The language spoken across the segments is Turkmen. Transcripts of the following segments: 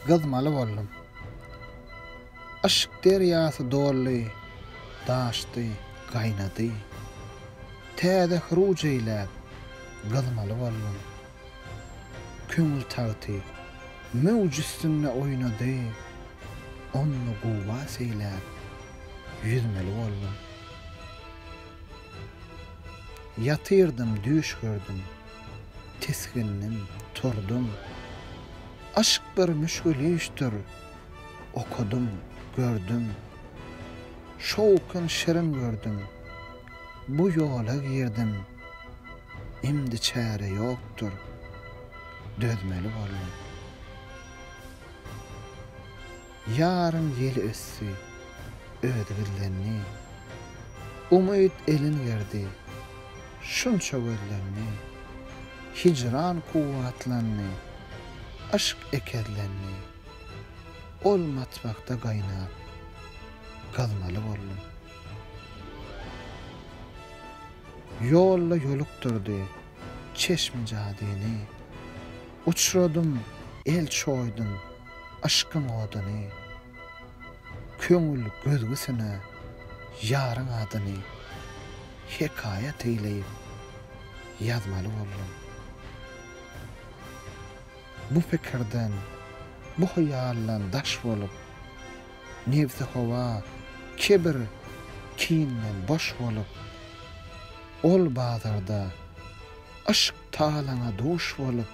Gyzmaly boldum. Yşk derýasy doldy, daşdy, gaýnady. Täze hyruj eýläp, gyzmaly boldum. Köňül tagty, möwj üstünde oýnady. Ony guwwas eýläp, ýüzmeli boldum. Ýatyrdym, düýş gördüm. Tisgindim, turdum. Aşk bir müşgülüşdir. Okadym, gördüm. Şowkun şirin gördüm. Bu ýola girdim. Imdi çäre ýokdur. Dözmeli boldum. Ýaryň ýeli ösdi, özi gizlendi. Umyt elin gerdi, şunça gözlendi. Hijran kuwwatlandy, yşk ekezlendi. Ol matbakda gaýnap, gyzmaly boldum. Ýolda ýolukdyrdy çeşmi jadyny. Uçradym, el çoýdum. Yşkyň oduny, Köňül gözgüsine ýaryň adyny Hekaýat eýleýip ýazmaly boldum. Bu pikirden, bu hyýaldan daş bolup, Nebsi-howa, kibir, kinden boş bolup, Ol bazarda, yşk talaňa duş bolup,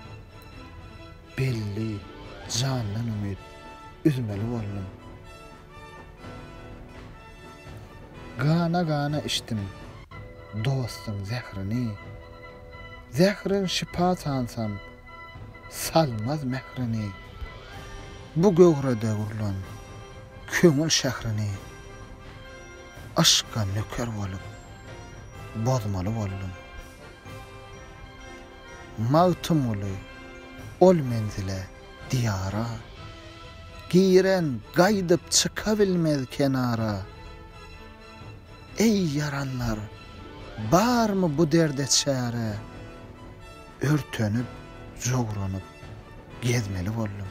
Belli, jandan umyt üzmeli boldum. Gana-gana içdim dostuň zährini. Zährin şypa sansam, salmaz mährini. Bu göwrede gurlan köňül şährini. Yşka nöker bolup, bozmaly boldum. Magtymguly ol menzile, diýara, Giren gaýdyp çykabilmez kenara. Eý, ýaranlar, barmy bu derde çäre? Örtenip, jogranyp gezmeli boldum.